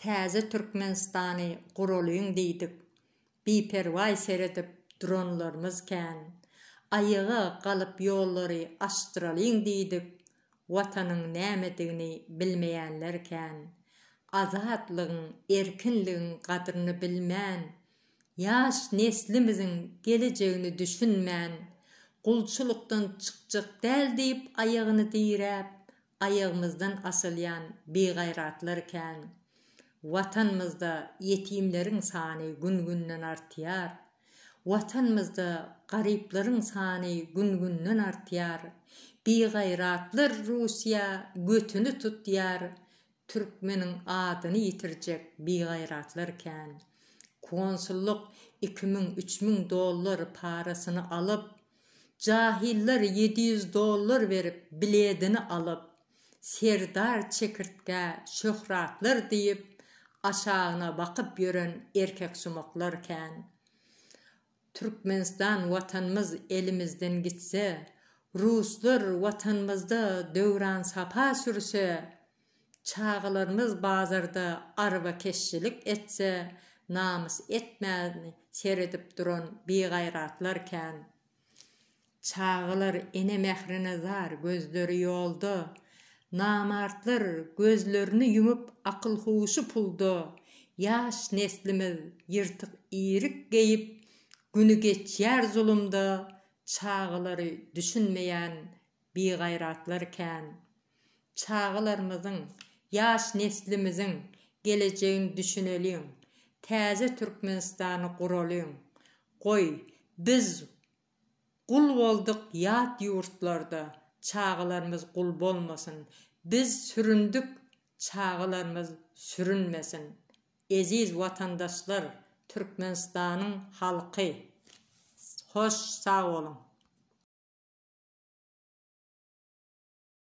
Täze Türkmenistany guralyň diýdik, biperwaý seredip duranlarymyz kän. Aýaga galyp ýollary açdyralyň diýdik, Watanyň nämedigini bilmeýänler kän. Azatlygyň, erkinligiň gadryny bilmän, ýaş neslimiziň gelejegini düşünmän, gulçulykdan çykjak däl diýip aýagyny diräp, aýagymyzdan asylýan bigaýratlar kän. Watanymyzda ýetimleriň sany gün-günden artýar. Watanymyzda garyplaryň sany gün-günden artýar. Bigaýratlar Russiýa götüni tutýar, Türkmeniň adyny ýitirjek bigaýratlar kän. Konsullyk iki müň, üç müň dollar parasyny alyp, jahyllar ýedi ýüz dollar berip biledini alyp, Serdar çekirtge, şöhratlar diýip aşagyna bakyp ýören erkeksumaklar kän. Türkmenistan watanymyz elimizden gitse, ruslar watanymyzda döwran sapa sürse, çagalarymyz bazarda arbakeşçilik etse namys etmän seredip duran bigaýratlar kän. Çagalar ene mährine zar, gözleri ýolda, Namartlar gözlerini ýumup akyl-huşy pulda, Ýaş neslimiz ýyrtyk iýrik geýip, güni geçýär zulumda, Çagalary düşünmeýän bigaýratlar kän. Çagalarymyzyň, ýaş neslimiziň gelejegini düşüneliň, Täze Türkmenistany guralyň. Goý, biz Gul boldyk ýat ýurtlarda, çagalarymyz gul bolmasyn, biz süründik, çagalarymyz sürünmesin. Eziz watandaşlar, Türkmenistanyň halky. Hoş sag boluň.